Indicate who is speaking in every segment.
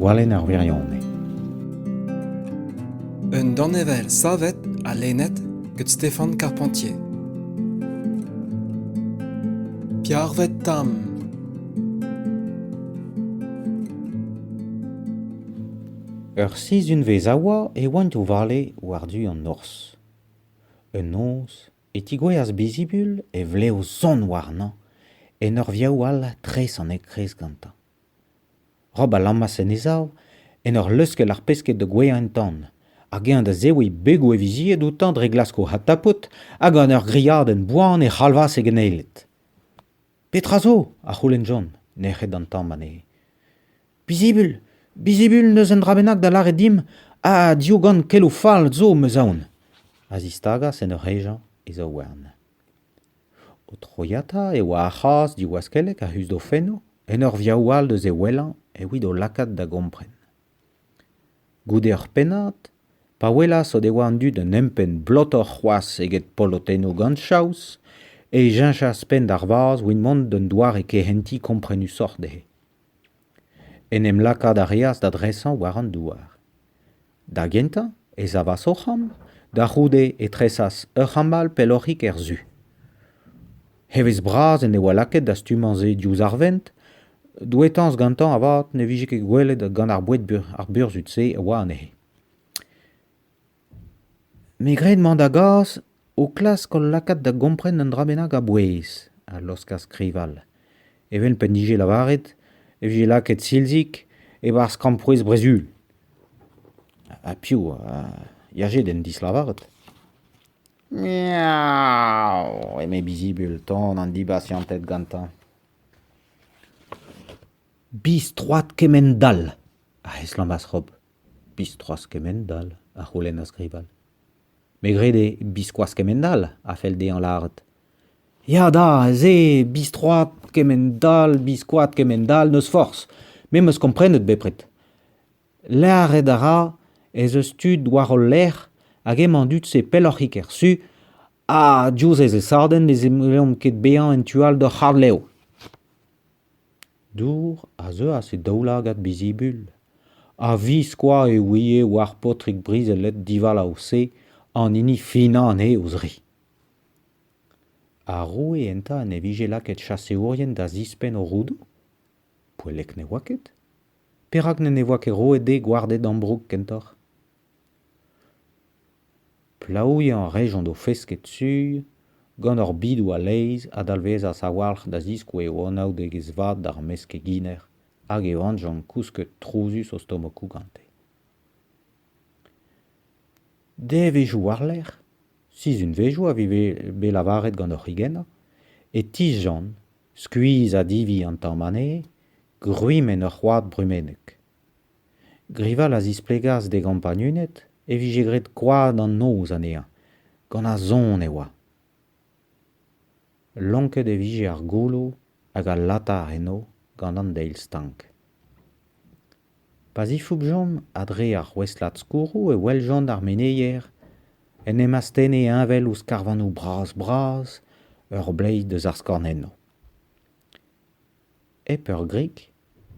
Speaker 1: Gwalenn ar wirionez.
Speaker 2: Un danevell savet ha lennet gant Stéphane Carpentier. Piarvet Tam
Speaker 1: Ur sizhunvezh a oa e oant o vale war-du an norzh. Un noz e tigouezhas Bezibul e vlev sonn warnañ en ur viaou all tres an enkreiz gantañ. Rob a lammas en e sav en ur leuskel ar pesked da gouezhañ en-tan, hag eñ da zebriñ begoù e vizied outañ dre glask o adtapout, hag gant ur griadenn boan e c'halvas e geneiled. Petra zo? a c'houlennjont, nec'het an tamm anezhe. Bizibl, bizibl n'eus un dra bennak da lâret dimp, ha diougan keloù fall zo, 'm eus aon. A zistagas en ur hejañ e zaouarn. O troiata e oa ar c'hazh diwaskellek a-us d'o fennoù, en ur viaou all eus e wellañ evit o lakaat da gompren. Goude ur pennad, pa welas o devoa an dud un empenn blotoc'h c'hoazh eget polotennoù gant chaos, e cheñchas penn d'ar vazh 'vit mont d'un doare kehentiñ komprenusoc'h dezhe. En em lakaat a reas da dresañ war an douar. Da gentañ e savas o c'hambr, da c'houde e tresas ur c'hamball pelloc'hik er su. Evezh-bras en devoa lakaet da stummañ-se diouzh ar vent, douetañs gantañ avat ne vije ket gwelet gant ar boued burzhud-se a oa anezhe. Me gred mañ da gas ho klask hol lakaat da gompren un dra bennak a-bouez, a laoskas skrival. Evel p'en dije lavaret e vije lakaet Silzig e-barzh krampouezh Brezhul. Ha piv a yaje d'en dislavaret? Miaou! eme Bizibul ton an dibasianted gantañ. Bistroat kement-all! a heslammas Rob. Bistroas kement-all, a c'houlennas Grival. Me grede biskoaz kement-all a fell dezhañ lâret. Ya da, se, bistroat kement-all, biskoat kement-all, n'eus forzh. Me 'm eus komprenet bepred. Lâret a ra ez eus tud war hol lerc'h hag emañ an dud-se pelloc'hik er su ha diouzh e zesadenn ne zellomp ket bezañ en tu all d'hor c'harr-lev. Dour a zeuas e daoulagad Bizibul, a-viskoazh e ouie war paotrig brizhellet divalav-se an hini finañ anezhe o-zri. Ar roue enta en devije lakaet chaseourien da zispenn o roudoù ? Poellek ne oa ket. Perak n'en devoa ket roet d'he gwarded ambroug kentoc'h ? Plaouiañ a rejont o fesket sur gant hor bidoù a-leizh a dalvezas a-walc'h da ziskouez o anaoudegezh vat d'ar meskeginer hag e oanjont kousket trouzus o stomokoù gante. Devezhioù war-lerc'h, sizhunvezioù a vize bet lavaret gant hor c'higennañ, e tisjont, skuizh ha divi an tamm anezhe, gwrimenn ur c'hoad brumennek. Grival a zisplegas d'e gampagnuned e vije graet koad an noz anezhañ. Gant a son e oa. Lonket e vije ar goulou hag al latar enno gant an deil stank. Pa zifoubjont a-dre ar c'houestlad skourroù e weljont ar meneier en em astenne heñvel ouzh karvanoù bras-bras ur bleiz deus ar skornennoù. Hep ur grik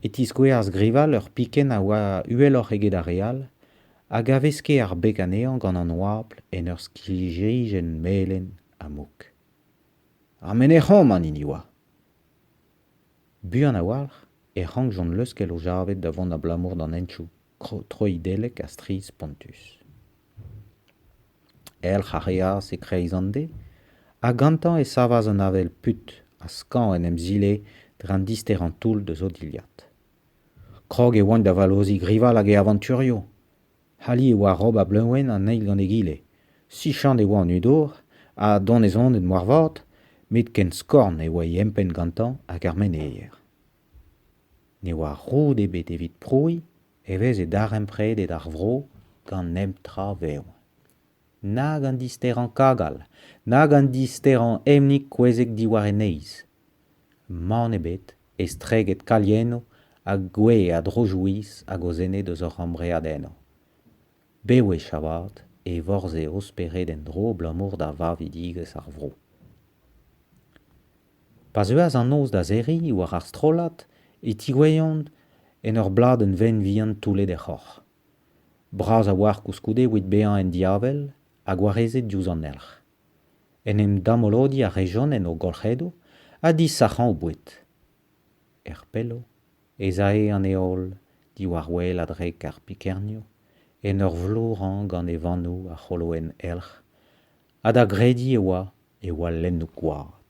Speaker 1: e tiskouezas Grival ur pikenn a oa uheloc'h eget ar re all hag a veske ar beg anezhañ gant an oabl en ur skilherijenn melen ha mouk. Ha menec'homp an hini oa. Buan a-walc'h e rankjont leuskel o javed da vont abalamour d'an henchoù. troidellek ha strizh-spontus. Elc'h a reas e-kreiz an de ha gantañ e savas an avel put ha skañv en em zile dre an disterañ toull deus o dilhad. Krog e oant da vallozhiñ grival hag e avañturioù. Ali e oa rob a-bleuñv an eil gant egile. Sichant e oa an udour ha donezonet moarvat met ken skorn e oa e empenn gantañ hag ar meneier. Ne oa roud ebet evit prouiñ e veze darempredet ar vro gant nep tra vev. Nag an disterañ kagal, nag an disterañ emnik kouezhek diwar e neizh. Mann ebet estreget kaliennoù ha gwe a dro-jouiz hag o zened eus hor c'hambreadennoù. Bewech avat e vorzhe o spered en-dro abalamour da vavidigezh ar vro. Pa zeuas an noz da serriñ war ar strollad e tigouezhjont en ur bladenn venn vihan toullet er c'hoc'h. Bras a-walc'h koulskoude evit bezañ en diavel ha gwarezet diouzh an elc'h. En em damolodiñ a rejont en o golc'hedoù ha disac'hañ o boued. Er pello ez ae an heol diwar wel a-drek ar pikernioù en ur vlourañ gant e vannoù a c'holoenn elc'h ha da grediñ e oa e oa lennoù gwad.